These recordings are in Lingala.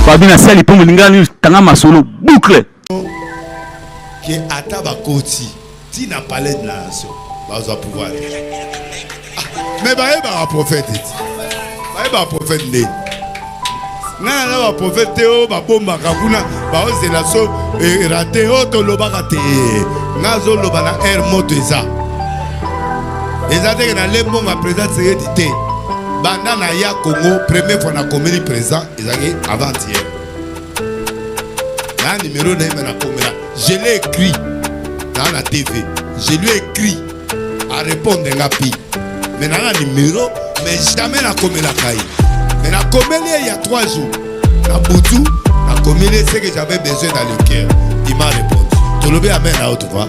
Fabi na sali po molinga ni tanga masolo boucle. Ke ata bakoti ti na palais de la nation bazwa pouvoir. Mais baye ba prophète ti. Baye ba prophète nde. Nana na ba prophète te o babombaka kuna baozela so erate o tolobaka te. Nazo loba na air moto eza. eza teke na lembonga président tseyedi te banda na ya congo premier fois na komeli président ezalaki avant hier na numero na ye me nakomela je l'ai écrit na na tv je lui écrit a répondre nga pi me na na numero mais jamais nakomelaka ye me nakomeli ye ya 3 jours na butu nakomeli ye ce que j'avais besoin dans le cœur il m'a répondu tolobi amen na yo tu vois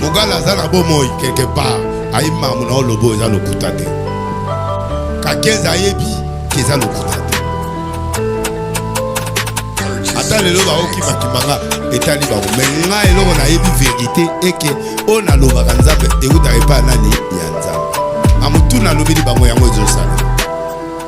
mugala aza na bomoi quelque part ayi mamu na olobo eza lokuta te kakeza ayebi ke eza lokuta te ata lelo baokimakimanga etali bango me nga eloko nayebi verité eke oyo nalobaka nzambe eutaka epai nani ya nzambe amotuna alobeli bango yango ezosala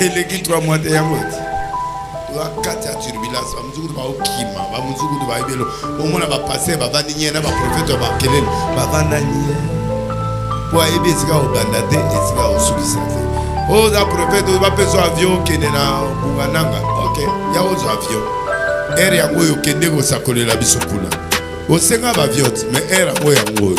eleki 3 mois te yango ete bakati ya turbulence bamosukutu baokima bamosukutu bayebelo omona bapaster bavandi nye na baprofete ya makelele bavanda nye mpo ayebi esika obanda te esika osukisa te oza profete bapesa avion okende na bungananga ok ya ozwa avion ere yango oyo okende kosakolela biso kuna osenga bavion te mais ere yango yango oyo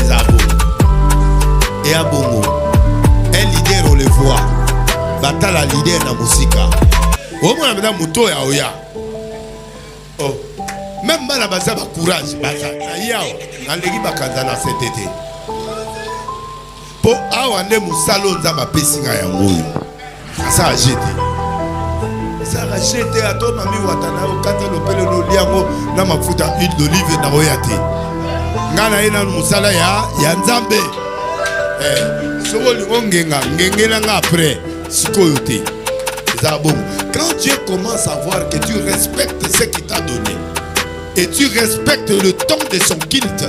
eza bongo eya bongo un leader on le voit batala leader na mosika omona mpenza moto oyo aoya oh. meme bana baza bacourage baza na ye awa naleki bakanza na sete te mpo awa nde mosala oyo nzambe apesi ngai yango oyo asala je te asala je te ato mami wata na yo kata lopele loli yango na mafuta huile d'olive na oya te ngai na ye nanu mosala ya, ya nzambe eh, soki olingi ongenga ngengela ngai après sikoyo te eza bongo quand dieu commence à voir que tu respectes ce qui t'a donné et tu respectes le temps de son culte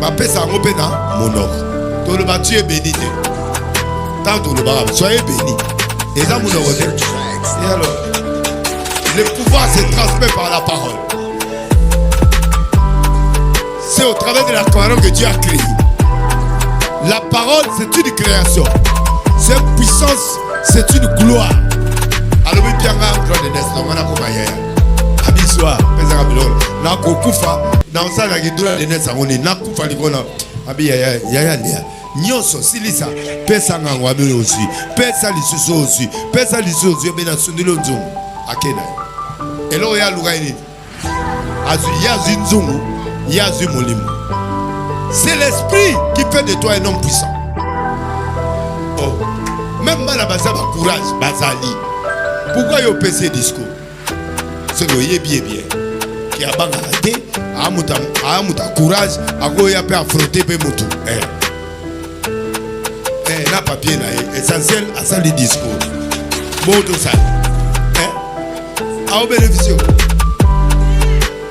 bapesa yango mpe na monoko toloba tu ye beni te ntango tolobaka soye beni eza monoko te le pouvoir se transmet par la parole c'est au travers de la parole que Dieu a créé la parole c'est une création c'est une puissance c'est une gloire alobi mpianga anglade nes na mwana komayaya abizwa pezaka biloko nakokufa naosalaka kidola denes yango nini nakufa likona abi yaya yaya ndeya nyonso silisa pesa ngango abi oyo ozwi pesa lisusu oyo ozwi pesa lisusu ozwi ebe nasundeli oyo nzungu ake na ye eloko ye aluka ye nini azwi ye azwi nzungu ye azwi molimo c'est l'esprit qui fait de toi un homme puissant oh. même bana baza bacourage bazali pourkui yo opesi ye discours soki oyebi ye bien ke abangaka te aa moto ya courage akoya mpe afrote mpe motu eh. eh, na papier na ye essentiel asali discours botosali eh? aobeneficio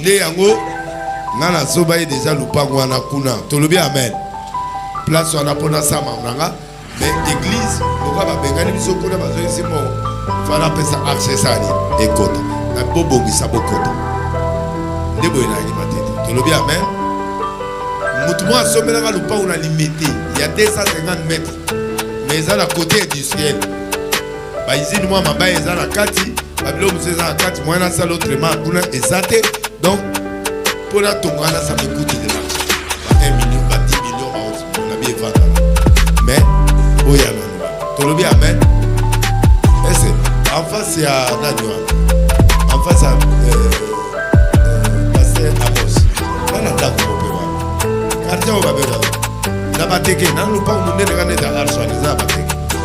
nde yango nga nazoba ye deja lopango wana kuna tolobi amen place wana mpo nasama nanga me eglise lokola babengani biso kuna bazoyisi mo fana apesa accesani ekota na bobongisa bokota nde boye nayeba te te tolobi amen motu moko asombelaka lopango na limete ya 250 mètre me eza na kote industriel ba izini mwa mabaya eza na kati babilo mosusu eza na kati moyen nasala autrement kuna eza te donc mpo natonga wana ça me coûte de l'argent ba 1 million ba 10 million ba 11 million na bievandaka mais oyo ya loloba tolobi amen ese en face ya nani wana en face ya euh, euh, pasteur amos bana ndako mope wana quartier oyo babengaka na bateke nanu lopango monene kana eza arsoan eza na bateke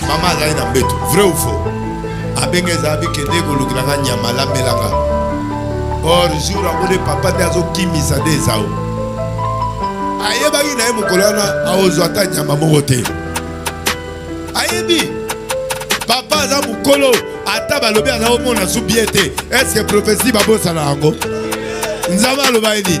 Mama azali na mbeto, vrai ou faux? Abenge ezabi kende kolukela nga nyama alambela nga. Or jour yango nde papa nde azokimisa nde ezao. Ayebaki na ye mokolo wana aozwa ata nyama moko te. Ayebi papa aza mokolo ata balobi aza komona su bie te. Est-ce que prophetie babosana yango? Nzambe aloba ye nini?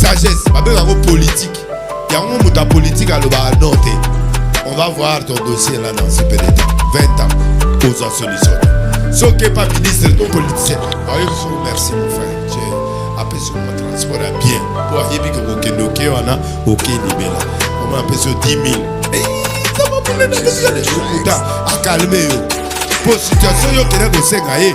sagesse babenga yango politike yango moto ya politike alobaka no te on va voir ton dossier là dans super état 20 ans oza solution soki epa ministre to politicien ayoso merci mon frère je apesi mwa transport ya bien mpo ayebi ke kokende oke wana oke libela oma apesi yo 10 000 akalme yo mpo situation yo okenda kosenga ye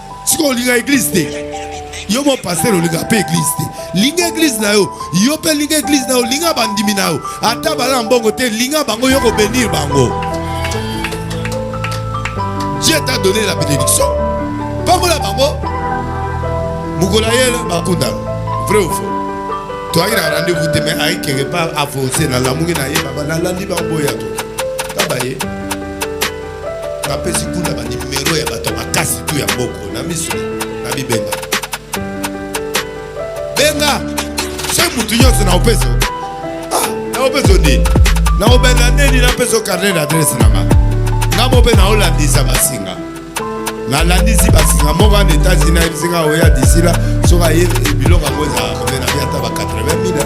sikoyo olinga eglise te yo mo pasteur olinga mpe eglise te linga eglise na yo yo mpe linga eglise na yo linga bandimi na yo ata bala na mbongo te linga bango yo kobenir bango dieu ta donne la bénédiction pambola bango mokolo ayele bakundana vrai ou faux toyaki na rendez-vous te mais ayi quelque part avance nalamuki na ye baba nalandi bango boya to tabaye Napesi kuna ba numero ya bato ya makasi tu ya mboko na miso na bibenga benga se motu nyonso na opeso ah, na opeso nini na obenda nini napeso carnet d'adresse na nga nga mo mpe naolandisa basinga nalandisi basinga moko ana etats-unis nayebisi nga oya disila soki aye biloko yango ezalaka mpe na biata ba 80 mila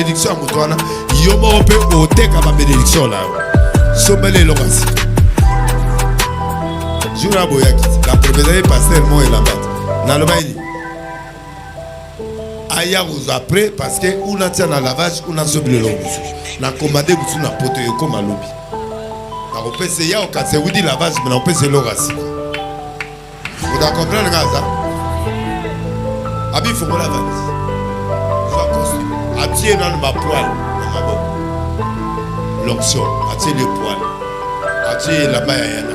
malédiction ya moto wana yo moko mpe oteka bamédiction na yo sombeli eloko ya sika jour aboyaki la promesa ye paster mo elambati nalobaki aya kozwa après parce que una tia na lavage una zo bilelo mosusu na commande mosusu na poto ekoma lobi nakopesa ya okasi ewuti lavage me nakopesa eloko ya sika oda comprendre kaka aza abifongola valise zwa costume atie nano bapoile na maboko l'onction atie le poile atie elamba ya yana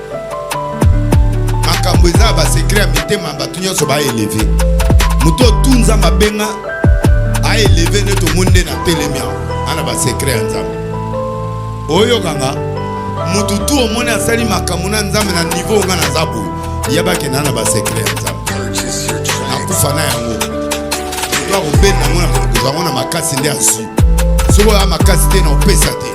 makambo eza ya basekre ya mitema ya bato nyonso baeleve moto otu nzambe abenga aeleve nde tomoni nde na telemi yango ana basekre ya nzambe oyokanga moto tu omoni asali makambo na nzambe na nivo onga naza boye yabakenda na basekre ya nzambe nakufa na yango to akobenda yango na kokozwa yango na makasi nde azwi soki oya makasi te na opesa te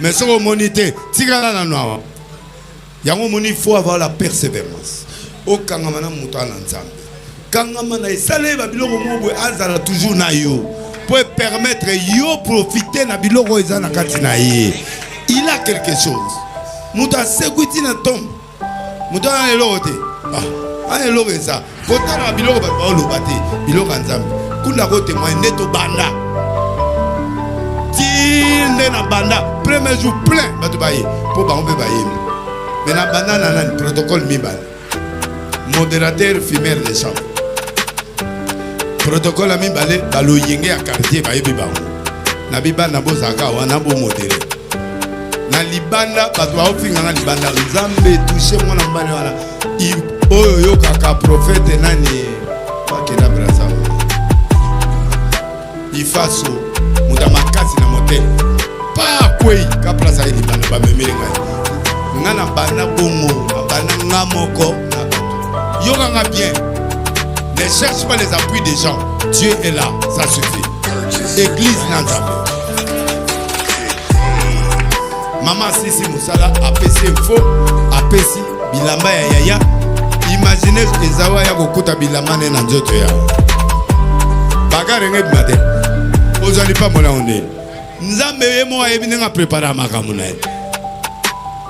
mais soki omoni te tikala nanu awa yango omoni il faut avoir la persévérance okangama na moto ana nzambe kangama na esaleli babiloko moko boye azala toujours na yo mpo epermettre yo profite na biloko oyo eza na kati na ye il a quelque chose moto asekwi ti na ntombo moto wana na eloko te ah, ana eloko eza kotala biloko bato baoloba te biloko ya nzambe kunda kotemoye nde tobanda ti nde na banda premier jour plein bato baye mpo bango mpe bayembi me na banda na nani protocole mibale modérateur fumeur de chambre protocole ya mibale baloyenge ya quartier bayebi bango na bibanda bozalaka wana bomodere na libanda bato baofinga na libanda nzambe touche mwana mobali wana oyo oyokaka profete nani bakenda brasa ifaso moto ya makasi na motema pa kwei ka place aye libanda bamemeli ngai ngai na banda bongo na banda nga moko na bato yokanga bien ne cherche pas les appuis des gens dieu est là ça suffit église na nzambe mama sisi mosala apesi info apesi bilamba ya yaya imagine ezawa ya kokuta bilamba ne na nzoto ya bagarenge bima te ozali pambola ondeni nzambe ye moko ayebi ndenge aprepare makambo na ye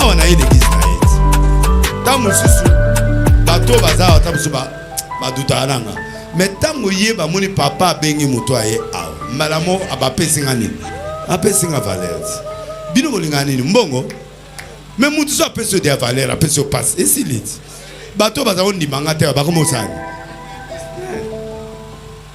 awa na ye l'église na ye ti ntango mosusu bato baza awa ntango mosusu badutaka na nga me ntango ye bamoni papa abengi moto aye awa mbala mo abapesi nga nini apesi nga valeur ti bino bolingaka nini mbongo me moto so apesi yo dia valeur apesi yo mpasi esili ti bato baza kondima nga te bakoma osani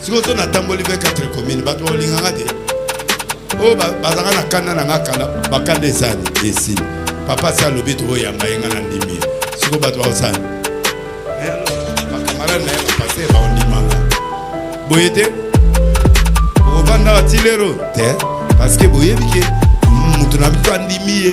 sikoyo so natamboli 24 commune bato bakolingaka te oyo oh, bazalaka na kanda na nga kala bakanda esani esili papa si alobi tokoyamba ye nga na ndimi sikoyo bato bakosani eh, bakamarade na ye bapase bakondimanga boye te okofanda batilero te parceke boyebi ke moto na biso andimi ye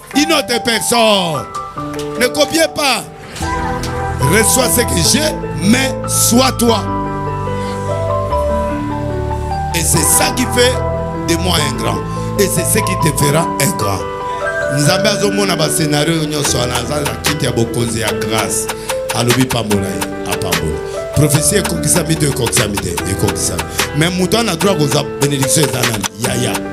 Une autre personne. Ne copiez pas. Reçois ce que j'ai, mais sois toi. Et c'est ça qui fait de moi un grand. Et c'est ce qui te fera un grand. nzambe azomona bascenario oyo nyonso wana aza na kiti ya bokonzi ya grâce alobi pambola ye apambola prophesie ekokisami to ekokisami te ekokisami mais moto wana droit koza bénédiction eza nani yaya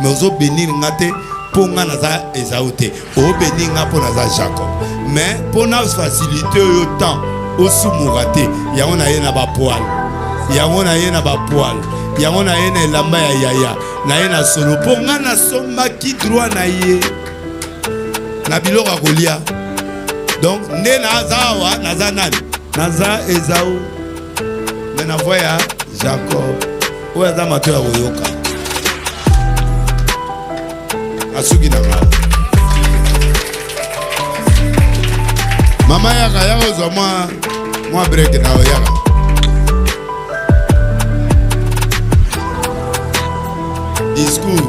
mais ozo benir nga te mpo nga naza ezau te obeni nga mpo naza jacob mais mpo na facilité oyo temps osumuka te yango na ye na bapoile yango na ye na bapoile yango na ye na elamba ya yaya na ye na solo mpo nga nasombaki droit na ye na biloko ya kolia donc nde naza awa naza nani naza ezau me na voi ya jacob oyo aza mato ya koyoka asuki na ngai mama yaka yaka ozwa mwa mwa break na yo yaka discours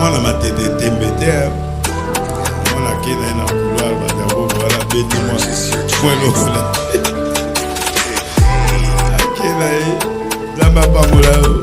mwana matete tembe te mwana ake na ye na couloir badango wana beti mwa mwa lokola ake na ye nzambe apambola yo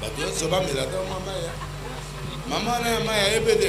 Bato nyonso bamela ata mwa mai. Mama wana ya mai ayebeli.